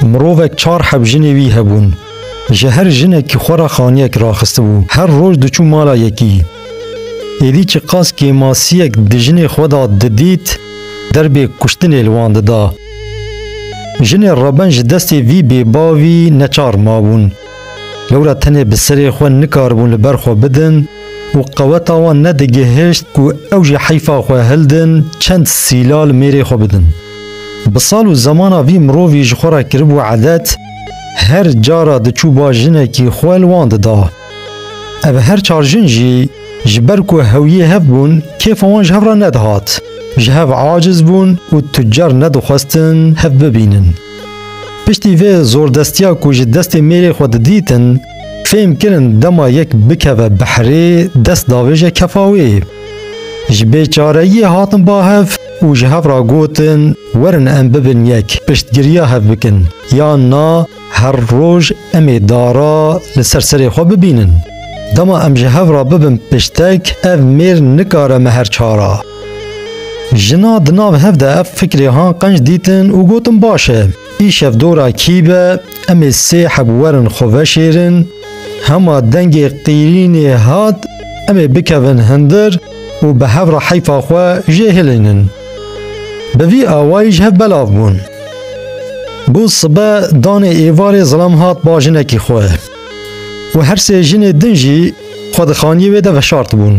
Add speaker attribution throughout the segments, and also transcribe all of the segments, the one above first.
Speaker 1: Mirovek çar heb jinê wî hebûn. Ji her jinekî xwe re xaniyek raxistibû. Her roj diçû mala yekî. Êdî çi qas kêmasiyek di jinê xwe de didît, derbê kuştinê li wan dida. Jinê reben ji destê vî bêbavî neçar mabûn. Lewra tenê bi serê xwe nikaribûn li ber xwe bidin û qeweta wan nedigihişt ku ew ji heyfa xwe hildin çend sîla li mêrê xwe bidin. Bi sal û zemana vî mirovî ji xwe re kiribû edet, her cara diçû ba jinekî xwe li wan dida. Ev her çar jin jî ji ber ku hewiyê hev bûn kêfa wan ji hev re nedihat. Ji hev aciz bûn û tucar nedixwestin hev bibînin. Piştî vê zordestiya ku ji destê mêrê xwe didîtin, fêm kirin dema yek bikeve behrê dest davêje kefa wê. Ji bêçareyiyê hatin ba hev û ji hev re gotin werin em bibin yek, piştgiriya hev bikin, yan na her roj em ê dara li ser serê xwe bibînin. Dema em ji hev re bibin piştek, ev mêr nikare me her çar a. Jina di nav hev de ev fikrê han qenc dîtin û gotin baş e. Îşev dora kî be, em ê sê heb werin xwe veşêrin, hema dengê qîrînê hat em ê bikevin hindir û bi hev re heyfa xwe jê hilînin. Bi vî awayî ji hev belav bûn. Bû sibe danê êvarê zilam hat ba jinekî xwe û her sê jinê din jî xwe di xaniyê wê de veşartibûn.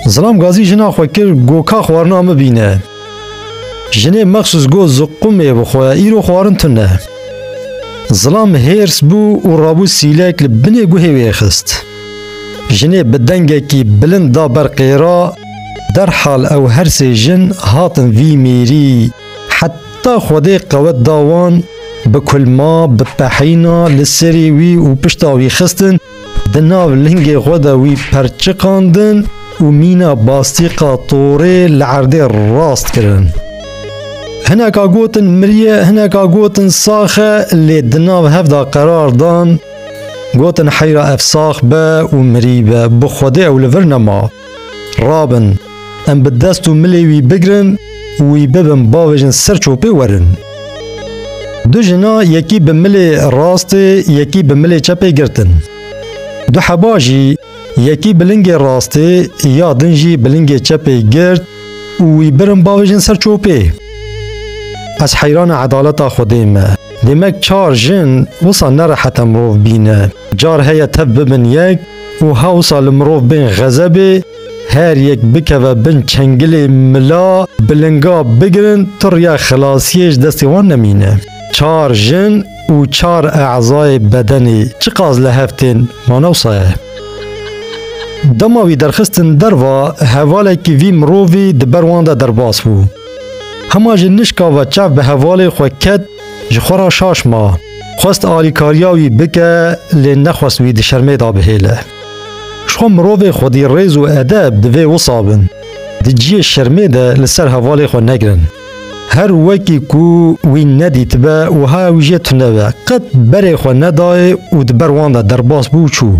Speaker 1: Zilam Gazî jina xwe kir go ka xwarina min bîne. Jinê mexsûs got ziqûmê bi xwe îro xwarin tune. Zilam hêrs bû û rabû sîlek li binê guhê wê xist. Jinê bi dengekî bilind da ber qêra, derhal ew her sê jin hatin vî mêrî, heta Xwedê qewet da wan, bi kulma, bi pehîna li serê wî û pişta wî xistin, Di nav lingê xwe de wî perçiqandin û mîna bastîqa torê li erdê rast kirin. Hineka gotin miriye, hineka gotin sax e lê di nav hev de qerar dan gotin heyra ev sax be û mirî be, bi Xwedê ew li vir nema. Rabin, em bi dest û milê wî bigirin û wî bibin bavêjin ser çopê werin. Du jina yekî bi milê rastê yekî bi milê çepê girtin. Du heba jî yekî bi lingê rastê ya din jî bi lingê çepê girt û wî birin bavêjin ser çopê. Ez heyrana edaleta Xwedê me. Demek çar jin wisa nerehet e mirov bîne. Car heye tev bibin yek û hewsa li mirov bên xezebê, her yek bikeve bin çengilê mila bi linga bigirin turiya xilasiyê ji destê wan nemîne. Çar jin û çar e'zayê bedenê çiqas li hev tên wan ewsa ye. Dema wî derxistin derva hevalekî vî mirovî di ber wan de derbas bû. Hema ji nişka ve çav bi hevalê xwe ket, Ji xwe re şaş ma. Xwest alîkariya wî bike lê nexwest wî di şermê de bihêle. Ji xwe mirovê xwedî rêz û edeb divê wisa bin. Di ciyê şermê de li ser hevalê xwe negirin. Her wekî ku wî nedîtibe wiha ew jê tune be. Qet berê xwe nedayê û di ber wan de derbas bû û çû.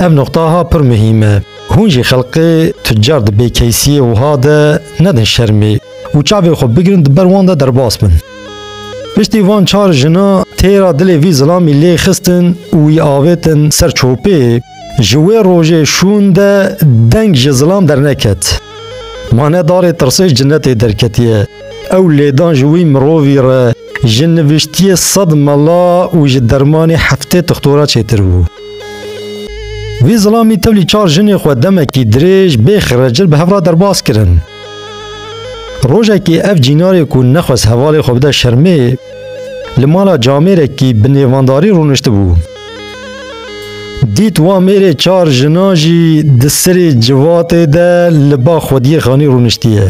Speaker 1: Ev nuqtaha pir muhîm e. Hûn jî xelqê tucar di bêkeysiyê wiha de nedin şermê. û çavên xwe bigirin di ber wan de derbas bin. Piştî van çar jina têra dilê vî zilamî lê xistin û wî avêtin ser çopê, ji wê rojê şûn de deng ji zilam derneket. Ma ne darê tirsê cinetê derketiye, ew lêdan ji wî mirovî re ji nivîştiyê sed mela û ji dermanê heftê tixtora çêtir bû. Vî zilamî tevlî çar jinê xwe demekî dirêj bê xirecil bi hev re derbas kirin. Rojekê ev cînarê ku nexwest hevalê xwe bide şermê li mala camêrekî bi nêvandarî rûniştibû. Dît wan mêrê çar jinan jî di sirê civatê de li ba xwediyê xanî rûniştiye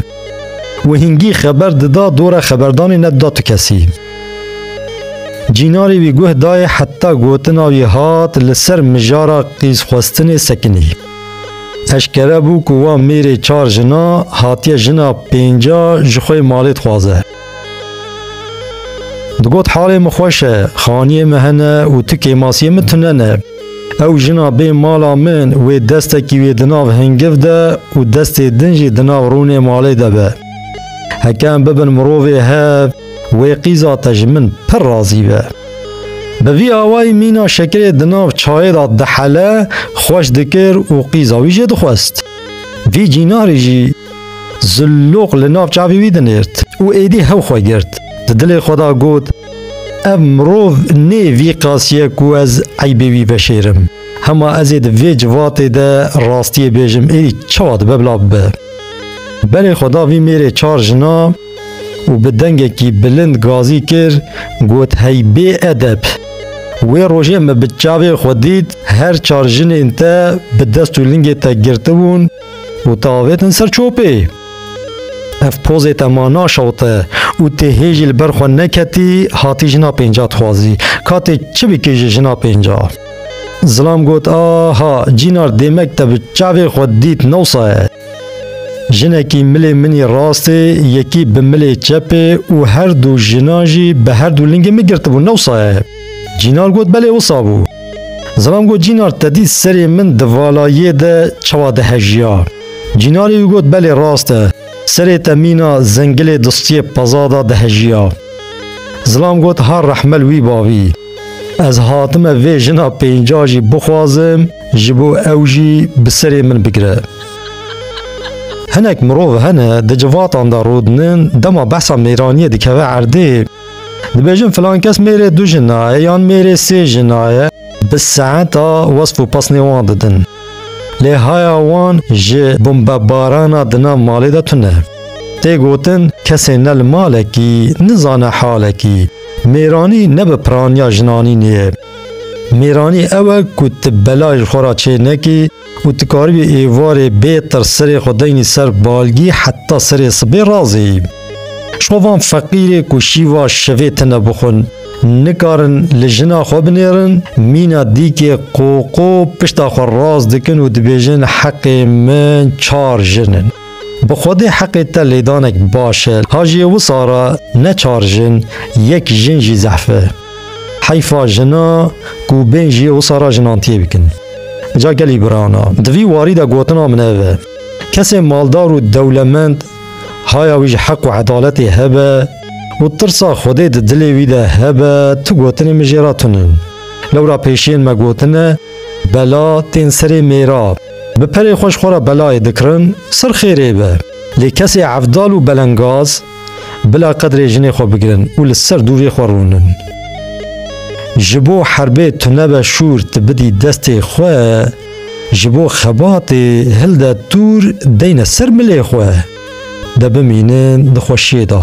Speaker 1: û hingî xeber dida dora xeberdanê nedida tu kesî. Cînarê wî guh dayê heta gotina wî hat li ser mijara qîzxwestinê sekinî. Eşkere bû ku wan mêrê çar jina hatiye jina pênca ji xwe malê dixwaze. Digot halê min xweş e, xaniyê min hene û tu kêmasiyê min tune ne. Ew jina bê mala min wê destekî wê di nav hingiv de û destê din jî di nav rûnê malê de be. Heke em bibin mirovê hev, Wê qîza te ji min pir razî be. Bi vî awayî mîna şekirê di nav çayê de dihele, xweş dikir û qîza wî jê dixwest. Vî cînarî jî Zilluq li nav çavê wî dinêrt û êdî hew xwe girt. Di dilê xwe de got, Ev mirov nê vî qasîye ku ez eybê wî veşêrim. Hema ez ê di vê civatê de rastiyê bêjim êdî çawa dibe bila bibe. Berê xwe da vî mêrê çar jina. û bi dengekî bilind gazî kir got hey bê edeb. Wê rojê min bi çavên xwe dît her çar jinên te bi dest û lingê te girtibûn û te avêtin ser çopê. Ev pozê te ma naşewte û tê hê jî li ber xwe neketî hatî jina pênca dixwazî. Ka tê çi bikî ji jina pênca? Zilam got aha cînar dêmek te bi çavê xwe dît newsa ye. Jinekî milê min î rastê, yekî bi milê çepê û her du jinan jî bi her du lingê min girtibûn, ne wisa ye? Cînar got, Belê wisa bû. Zilam got, Cînar te dît serê min di vala yê de çawa dihejiya? Cînarê wî got, Belê rast e, serê te mîna zengilê distiyê peza de dihejiya. Zilam got, Ha rehmel wî bavî. Ez hatime vê jina pênca jî bixwazim ji bo ew jî bi serê min bigire. Hinek mirov hene di civatan de rûdinin dema behsa mêraniyê dikeve erdê dibêjin filan kes mêrê du jinaye yan mêrê sê jinaye bi saeta wesf û pasnê wan didin. Lê haya wan ji bombebarana di nav malê de tune. Tê gotin kesê ne li malekî nizane halekî. Mêranî ne bi piraniya jinanînê ye. Mêranî ew e ku tu bela ji xwe re çê nekî û tu karibî êvarê bê tirs serê xwe deynî ser balgî heta serê sibê razêyî. Ji xwe van feqîrê ku şîva şevê tune bixwin, nikarin li jina xwe binêrin, mîna dîkê qoqo pişta xwe rast dikin û dibêjin heqê min çar jin in. Bi xwedê heqê te lêdanek baş e. Hajiyê wisa re ne çar jin, yek jin jî zehf e. Heyfa jina ku bên jiyê wisa re jinantiyê bikin. Ca gelî biran a. Di vî warî de gotina min ev e. Kesê maldar û dewlemend haya wî ji heq û edaletê hebe û tirsa xwedê di dilê wî de hebe tu gotinên min jê re tun in. Lewra pêşiyên me gotine, Bela tên serê mêra. Bi perê xwe ji xwe re belayê dikirin, sir xêrê be. Lê kesê evdal û belengaz bila qedrê jinê xwe bigirin û li ser dûvê xwe rûnin. Ji bo herbê tu nebe şûr tu bidî destê xwe, ji bo xebatê hilde tûr deyne ser milê xwe, de bimînin di xwe şêda.